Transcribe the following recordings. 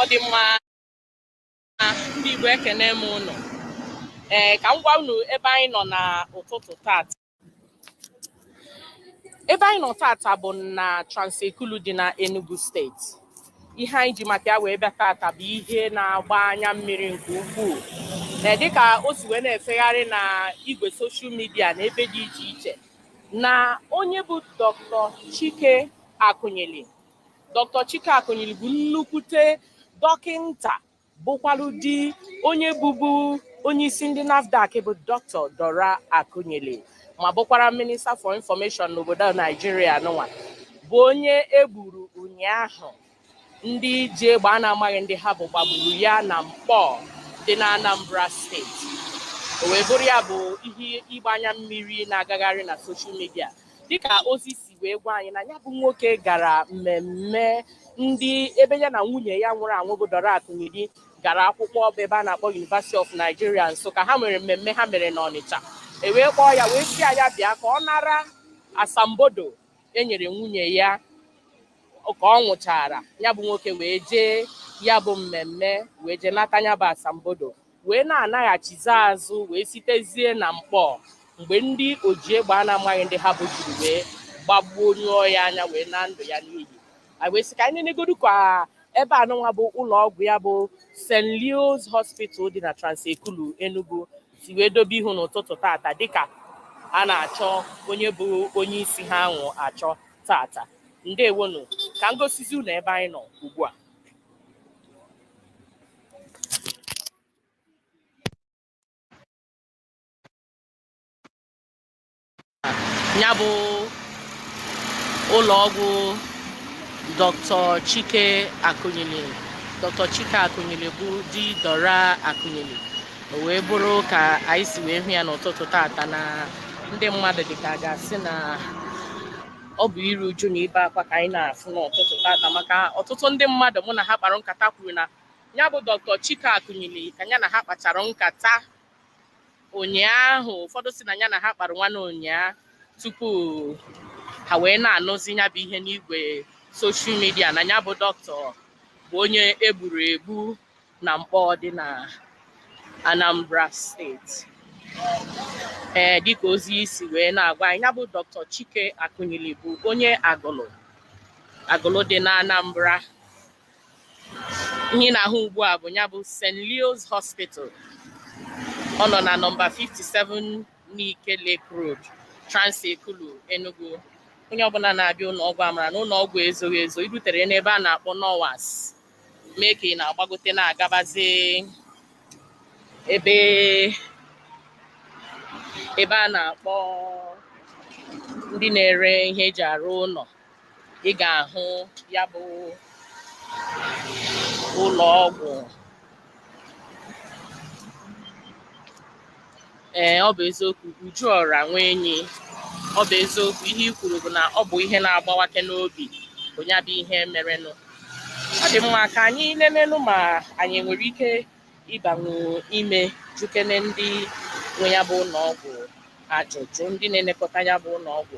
ọ dị mma ndị Igbo ekene m ụnụ ee ka m gwa unu ebe anyị nọ n'ụtụtụ tata ebe anyị nọ tata bụ na Transekulu dị na Enugu steeti ihe anyị ji maka ya wee bịa tata bụ ihe na-agba anya mmiri nke ukwuu na dịka o si wee na-efegharị na igwe soshal midia na ebe dị iche iche na onye bụ Dr. Chike Akunyili Dr. Chike Akunyili bụ nnukwute dọkịnta bụkwalụ di onye bụbu onye isi ndị NAFDAC bụ Dr. Dora Akunyili ma bụkwara minista for information n'obodo Naijiria nụnwa bụ onye egburu ụnyaahụ ndị ji egbe a na-amaghị ndị ha bụ gbagburu ya na Nkpọọ dị na Anambra steeti o wee bụrụ ya bụ ihe ịgba anya mmiri na-agagharị na soshal midia dịka ozi si wee gwa anyị na ya bụ nwoke gara mmemme ndị ebe ya na nwunye ya nwụrụ anwụ bụ Dora Akunyili gara akwụkwọ bụ ebe a na-akpọ University of Nigeria Nsụka ha nwere mmemme ha mere n'Ọnịcha e wee kpọọ ya wee sị ya bịa ka ọ nara asambodo enyere nwunye ya ka ọ nwụchara ya bụ nwoke wee jee ya bụ mmemme wee jee nata ya bụ asambodo wee na-anaghachizi azụ wee sitezie na Nkpọọ mgbe ndị oji egbe a na-amaghị ndị ha bụ jiri wee gbagbuo nyụọ ya anya wee naa ndụ ya n'iyi anyị wee sị ka anyị nenegodu ka ebe a nụnwa bụ ụlọ ọgwụ ya bụ St. Leo's Hospital dị na Transekulu Enugu si wee dobe ihu n'ụtụtụ tata dịka a na-achọ onye bụ onye isi ha ahụ achọ tata ndewonu ka m gosizi unu ebe anyị nọ ugbu a ya bụ ụlọ ọgwụ Dr. Chike Akunyili Dr. Chike Akunyili bụ di Dora Akunyili o wee bụrụ ka anyị si wee hụ ya n'ụtụtụ tata na ndị mmadụ dịka a ga-asị na ọ bụ iru uju na ibe akwa ka anyị na-afụ n'ụtụtụ tata maka ọtụtụ ndị mmadụ mụ na ha kpara nkata kwuru na ya bụ Dr. Chike Akunyili ka ya na ha kpachara nkata ụnyaahụ ụfọdụ sị na ya na ha kpara nwanne ụnyaahụ tupu ha wee na-anụzi ya bụ ihe n'igwe soshal midia na ya bụ dọkịta bụ onye egburu egbu na Nkpọ dị na Anambra steeti ee eh, dịka ozi si wee na-agwa anyị ya bụ Dr. Chike Akunyili bụ onye Agụlụ Agụlụ dị na Anambra ihe ị na-ahụ ugbu a bụ nya bụ St. Leo's Hospital ọ nọ na nọmba 57 Nike Lake Road Trans-Ekulu Enugu onye ọbụla na-abịa ụlọ ọgwụ amara na ụlọ ọgwụ ezoghị ezo i rutere n'ebe a na-akpọ Nowas mee ka ị na-agbagote na-agabazi ee ebe a na-akpọ ndị na-ere ihe eji arụ ụlọ ị ga-ahụ ya bụ ụlọ ọgwụ ee ọ bụ eziokwu Uju Ọra Nwenyi ọ bụ eziokwu ihe i kwuru bụ na ọ bụ ihe na-agbawake n'obi bụ nya bụ ihe merenụ ọ dị mma ka anyị nenenụ ma anyị nwere ike ịbanwu ime jụkene ndị nwe ya bụ ụlọ ọgwụ ajụjụ ndị na-elekọta nya bụ ụlọ ọgwụ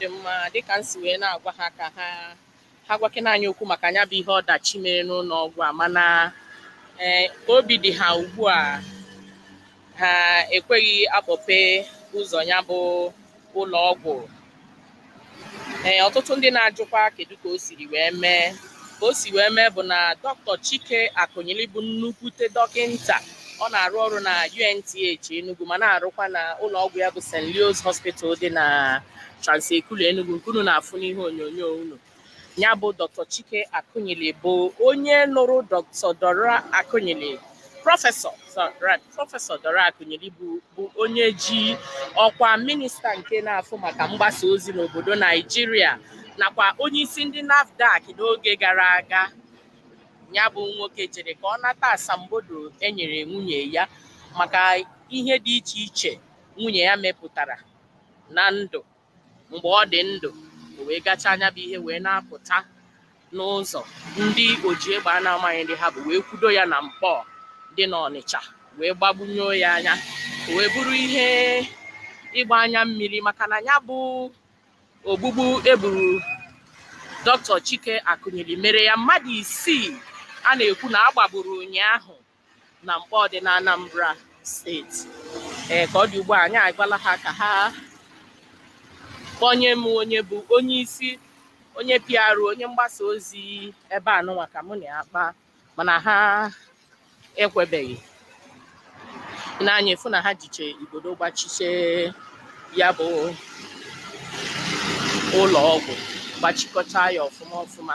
dị mma dịka m si wee na-agwa ha ka ha ha gwakene anyị okwu maka nya bụ ihe ọdachi mere n'ụlọ ọgwụ a mana ee ka obi dị ha ugbu a ha ekweghị akpọpe ụzọ nya bụ ụlọ ọgwụ ee ọtụtụ ndị na-ajụkwa kedu ka o siri wee mee ka o si wee mee bụ na Dr. Chike Akunyili bụ nnukwute dọkịnta ọ na-arụ ọrụ na UNTH Enugu ma na-arụkwa na ụlọ ọgwụ ya bụ St. Leo's Hospital dị na Trans-Ekulu Enugu nke unu na-afụ n'ihe onyonyo unu nya bụ Dr. Chike Akunyili bụ onye nụrụ Dr. Dora Akunyili prọfesọ prọfesọ Dora Akunyili bụ onye ji ọkwa minista nke na-afụ maka mgbasa ozi n'obodo Naijiria nakwa onye isi ndị NAFDAC n'oge gara aga nya bụ nwoke jere ka ọ nata asambodo enyere nwunye ya maka ihe dị iche iche nwunye ya mepụtara na ndụ mgbe ọ dị ndụ o wee gachaa nya bụ ihe wee na-apụta n'ụzọ ndị oji egbe a na-amaghị ndị ha bụ wee kwudo ya na Nkpọ dị n'Ọnịcha wee gbagbunyo ya anya o wee bụrụ ihe ịgba anya mmiri maka na nya bụ ogbugbu egburu Dr. Chike Akunyili mere ya mmadụ isii a na-ekwu na agbagburu ụnyaahụ na Nkpọ dị na Anambra steeti ee ka ọ dị ugbu a anyị agwala ha ka ha kpọnye m onye bụ onye isi onye PR onye mgbasa ozi ebe a nụnwa ka mụ na ya kpaa mana ha ekwebeghị nee anya ị fụ na ha jiche igodo gbachiche ya bụ ụlọ ọgwụ gbachikọta ya ọfụma ọfụma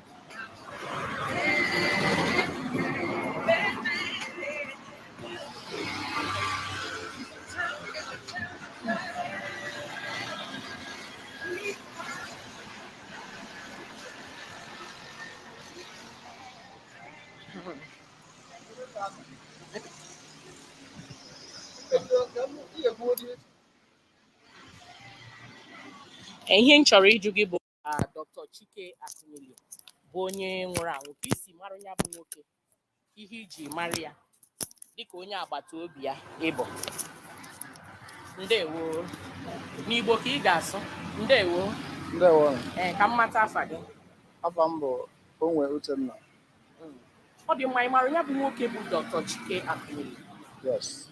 ihe m chọrọ ịjụ gị bụ ah, Dr. Chike Akunyili bụ onye nwụrụ anwụ ka i si mara ya bụ nwoke ihe i ji mara ya dịka onye agbata obi ya ị bụ ndewo n'igbo ka ị ga-asụ ndewo ndewo ee ka m mata afa gị afa m bụ Onwe Uchenna ọ dị mma ị mara ya bụ nwoke bụ dr chike Akunyili yes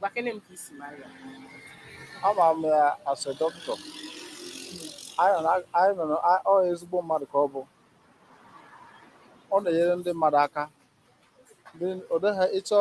gwakene m ka i si mara ya ama m ya as a doctor anyị nọ na- anyị nọ na- a- ọ ezigbo mmadụ ka ọ bụ ọ na-enyere ndị mmadụ aka Ndị- ọ dịghị ịchọ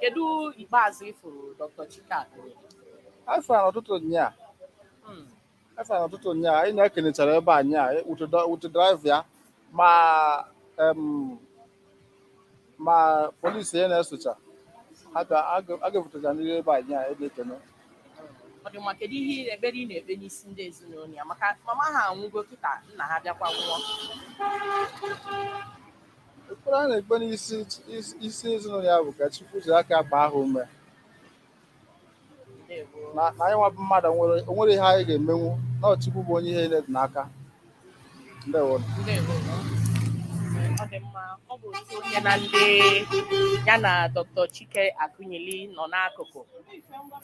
Kedu ikpeazụ ị fụrụ Dr. Chike Akunyili? Afụ ya n'ụtụtụ nyaa Hmm. afụ ya n'ụtụtụ nyaa anyị na-ekenechara ebe anyị a with driver ya ma em, ma polisi ya na-esocha ha bịa- a ga- a ga-ebutecha ndị ebe anyị a ebe ekene Ọ dị mma kedu ihe ekpere ị na-ekpe n'isi ndị ezinụlọ ya maka mama ha anwụgo kịta nna ha bịakwa nwụọ ekpere a na-ekpe n'isi isi- isi ezinụlọ ya bụ ka Chukwu jiri aka gbaa ha ume Ndewo. na na anyị nwa bụ mmadụ nwere o nwere ihe anyị ga-emenwu na ọ Chukwu bụ onye ihe niile dị n'aka ndewo Ndewo. Ee, ọ dị mma ọ bụ otu onye na ndị ya na dr chike akụnyili nọ n'akụkụ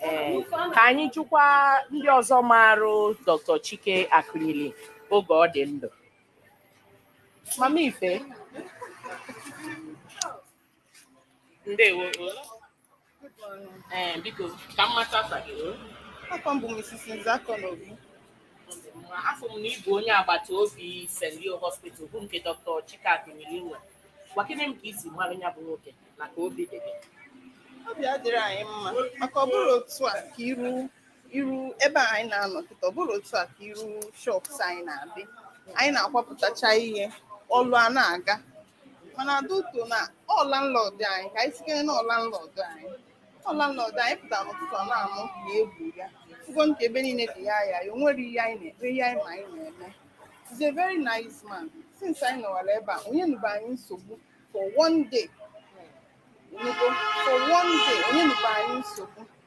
ee ka anyị jụkwa ndị ọzọ marụ dr chike akụnyili oge ọ dị ndụ Mama Ife. Ndewo. Ee, eh, biko, ka m mata afa gị. Afa m bụ Mrs. Nzeakonobi. Afụ m na ị bụ onye agbata obi St. Leo Hospital bụ nke Dr. Chike Akunyili nwe. Gwakene m ka i si mara ya bụ nwoke na ka obi dị gị. Obi adịghị anyị mma maka ọ bụrụ otu a ka iru iru ebe a anyị na-anọ kịta ọ bụrọ otu a ka iru shops anyị na-adị anyị na-akwapụtacha ihe ọlụ a na-aga mana due to na ọ landlord anyị ka anyị sikere na ọ landlord anyị ọ landlord anyị pụtara n'ụtụtụ a na-anụ na e gbuo ya ị fụgo ka ebe niile dị ya ya ya o nwerọ ihe anyị na-ekpe ihe anyị ma anyị na-eme He's a very nice man since anyị nọwara ebe a o nyenube anyị nsogbu for one day ị nụgo, for one day o nyenube anyị nsogbu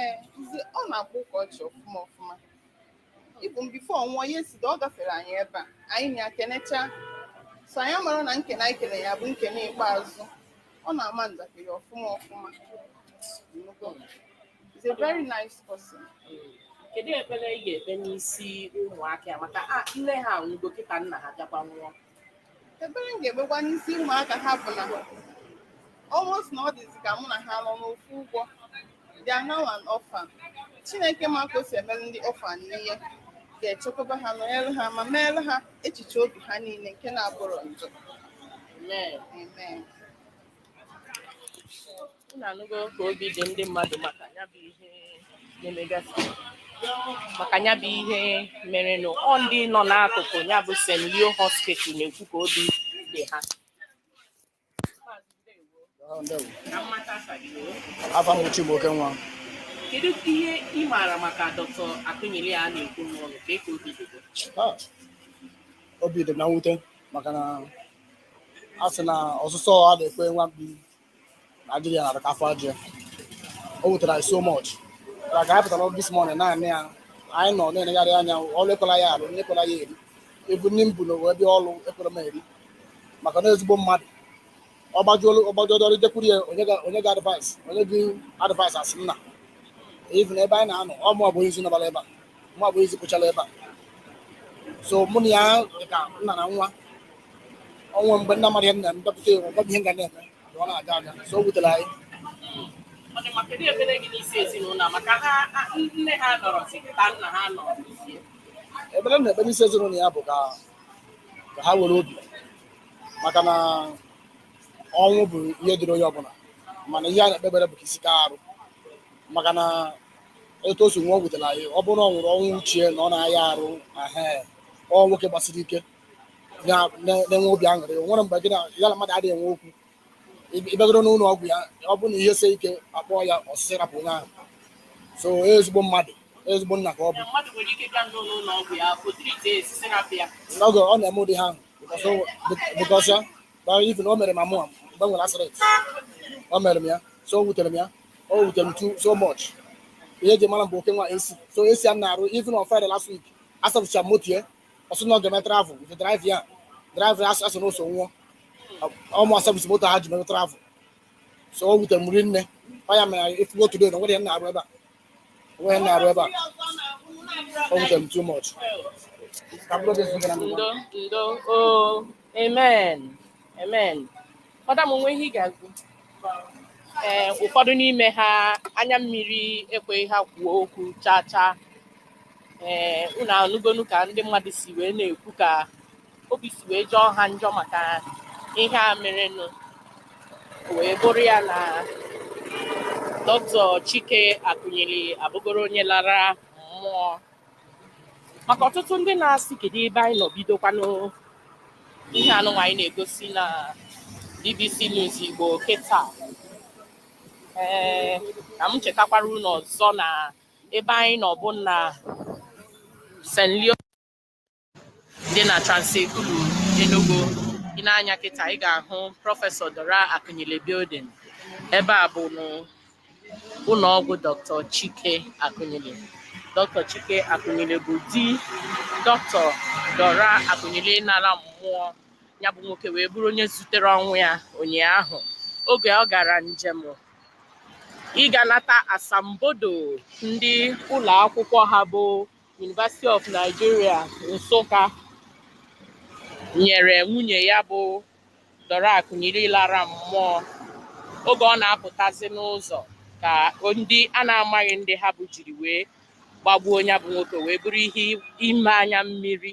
ee nze ọ na-akpa ụka ọchị ọfụma ọfụma even before ọ nwụọ yesterday ọ gafere anyị ebe a anyị na ya kenechaa so anyị amarọ na nkene anyị kene ya bụ nkene ikpeazụ ọ na-ama njakịrị ọfụma ọfụma. He's a very nice person. kedu ekpere ị ga-ekpe n'isi ụmụaka ya maka na nne ha nwụgo kịta nna ha bịakwa nwụọ ekpere m ga-ekpekwa n'isi ụmụaka ha bụ na almost na ọ dịzi ka mụ na ha nọ n'ofu ụgbọ they are now an orphan chineke ma ka o si emere ndị orphan ihe ga-echekwaba ha nọnyere ha ma meere ha echiche obi ha niile nke na-abụrọ njọ Amen. amen unu anụgo ka obi dị ndị mmadụ maka ya bụ ihe na-emegasị maka ya bụ ihe merenụ ọ ndị nọ n'akụkụ ya bụ St. Leo Hospital na-ekwu ka obi dị ha afa m Chibuoke nwa kedu ihe ị maara maka Dr. Akunyili a na-ekwu n'ụlọ kee ka obi dị gị? Ah, obi dị m na mwute maka na a sị na ọsụsọ a na-ekwe nwa mkpi Naijiria na afọ aja o wutere anyị so much ka ka anyị pụtara this morning naanị ya anyị nọ na-enegharị anya ọrụ ekwela ya alụ nni ekwela ya eri even nni m bu wee bịa ọrụ ekwerọ m eri maka na ezigbo mmadụ ọgbajuolu ọgbajuolu ọrụ jekwuru ya o nye gị- o nye gị advice o nye gị advice as nna even ebe anyị na-anọ ọ mụwa bụ onye izizi nọbara ebe a mụwa bụ izizi kpochara ebe a so mụ na ya dị ka nna na nwa o nwee mgbe m na-amarọ ihe m na-eme m dọpụta ya ọ gwa m ihe m ga na-eme ka ọ na-aga aga so o wutere anyị Ọ dị mma, kedu ekpere gị n'isi ezinụlọ a? maka ha ha- nne ha anọrọzi kịta nna ha anọrọzi. ekpere m na-ekpe n'isi ezinụlọ ya bụ ka ka ha were obi maka na ọnwụ bụ ihe dịrị onye ọbụla mana ihe a na-ekpe ekpere bụ ka isi ka arụ maka na otu o si nwụọ wutere anyị ọ bụrọ na ọ nwụrụ ọnwụ chi ya na ọ na-aya arụ ahụ ọ nwoke gbasiri ike na- na- na-enwe obi aṅụrị o nwerọ mgbe gị na ya na mmadụ adịghị enwe okwu Ị- ị bịagodu n'ụlọ ọgwụ ya ọ bụrụ na ihe sie ike akpọọ ya ọ sị sị rapụ onye ahụ so ezigbo mmadụ ezigbo nna ka ọ bụ mmadụ nwere ike ịbịa n'ụlọ ọgwụ ya o treatie ya sị sị rapụ ya n'oge ọ na-eme ụdị ihe ahụ because o- because ya Now even o mere ma mụ mgbe m nwere accident o mere m ya so o wutere m ya o wutere m too so much ihe eji mara m bụ oke nwa AC so AC a m na-arụ even on Friday last week asapụcha m moto ya ọ sị na ọ ga-eme travel with driver ya driver ya a sị na o so nwụọ ọ mụ asapụcha moto ha ji mere travel so o wutere m rinne ọ ya mere ị fụgo today na nwere ihe m na-arụ ebe a Wee na-arụ ebe a. O wutere m too much. Ka bụrụ oge zigara m. ndo ndo o amen amen madam o nwe ihe ị ga-agụ ee ụfọdụ n'ime ha anya mmiri ekweghị ha kwuo okwu chaa chaa ee unu anụgonu ka ndị mmadụ si wee na-ekwu ka obi si wee jọọ ha njọ maka ihe a merenụ wee bụrụ ya na dr chike akunyili abụgoro onye lara mmụọ maka ọtụtụ ndị na-asị kedu ebe anyị nọ bidokwanụ ihe anụnwa anyị na-egosi na bbc news igbo kịta ee ka m chetakwara unu ọzọ na ebe anyị nọ bụ na st leo dị na Trans Ekulu Enugu i nee anya kịta ị ga-ahụ prọfesọ Dora Akunyili building ebe a bụ ụlọ ọgwụ Dr. Chike Akunyili Dr. Chike Akunyili bụ di Dr. Dora Akunyili nara mmụọ ya bụ nwoke wee bụrụ onye zutere ọnwụ ya ụnyaahụ oge ọ gara njem ịga nata asambodo ndị ụlọ akwụkwọ ha bụ University of Nigeria Nsụka nyere nwunye ya bụ Dora Akunyili lara mmụọ oge ọ na-apụtazi n'ụzọ ka ndị a na-amaghị ndị ha bụ jiri wee gbagbuo ya bụ nwoke wee bụrụ ihe ime anya mmiri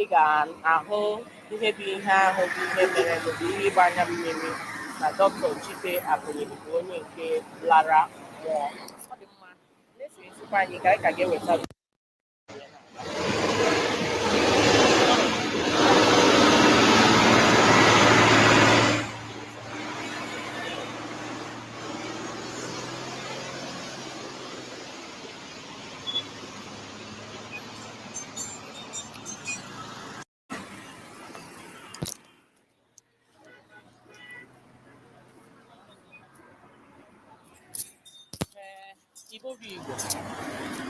ị ga-ahụ ihe bụ ihe ahụ bụ ihe mere bụ ihe ịgba anya mmiri na Dr. Chike Akunyili bụ onye nke lara mmụọ ọ dị mma na-esonyezikwa anyị ka anyị ka ga-eweta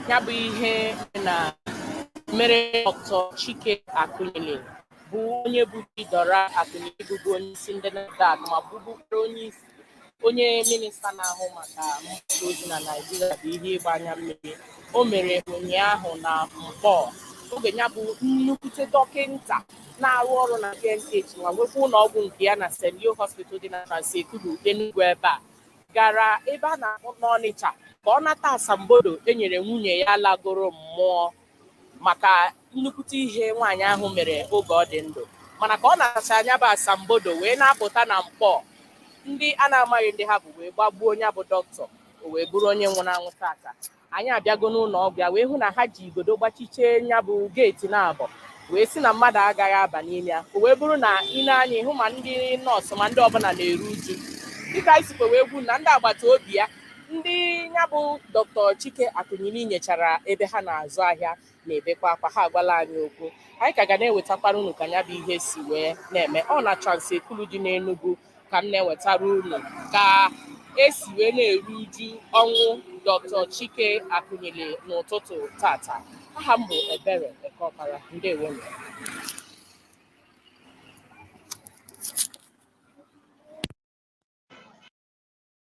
ya bụ ihe na mere Dr. Chike Akunyili bụ onye bụ di Dora Akunyili bụbu onye isi ndị NAFDAC ma bụbụkwara onye isi onye minista na-ahụ maka mgbasa ozi na Naịjirịa bụ ihe ịgba anya mmiri o mere ụnyaahụ na Nkpọ oge nya bụ nnukwute dọkịnta na-arụ ọrụ na UNTH ma nwekwa ụlọ ọgwụ nke ya na St. Leo Hospital dị na Trans-Ekulu Enugu ebe a gara ebe a na-akpọ n'Ọnịcha ka ọ nata asambodo e nyere nwunye ya lagoro mmụọ maka nnukwute ihe nwaanyị ahụ mere oge ọ dị ndụ mana ka ọ nachaa nya bụ asambodo wee na-apụta na Nkpọ ndị a na-amaghị ndị ha bụ wee gbagbuo nya bụ doctor o wee bụrụ onye nwụrụ anwụ tata anyị abịago n'ụlọ ọgwụ ya wee hụ na ha ji igodo gbachichie nya bụ geeti naabọ wee sị na mmadụ agaghị aba n'ime ya o wee bụrụ na i nee anya ị hụ ma ndị nọọsụ ma ndị ọbụla na-eru uju dịka anyị sikwa wee gwa unu na ndị agbata obi ya ndị nya bụ Dr. Chike Akunyili nyechara ebe ha na-azụ ahịa na-ebekwa akwa ha agwala anyị okwu anyị ka ga na-ewetakwara unu ka nya bụ ihe si wee na-eme ọ na Trans-Ekulu dị n'enugwu ka m na-ewetara unu ka e si wee na-eru uju ọnwụ Dr. Chike Akunyili n'ụtụtụ tata aha m bụ Ebere Ekeọpara ndewo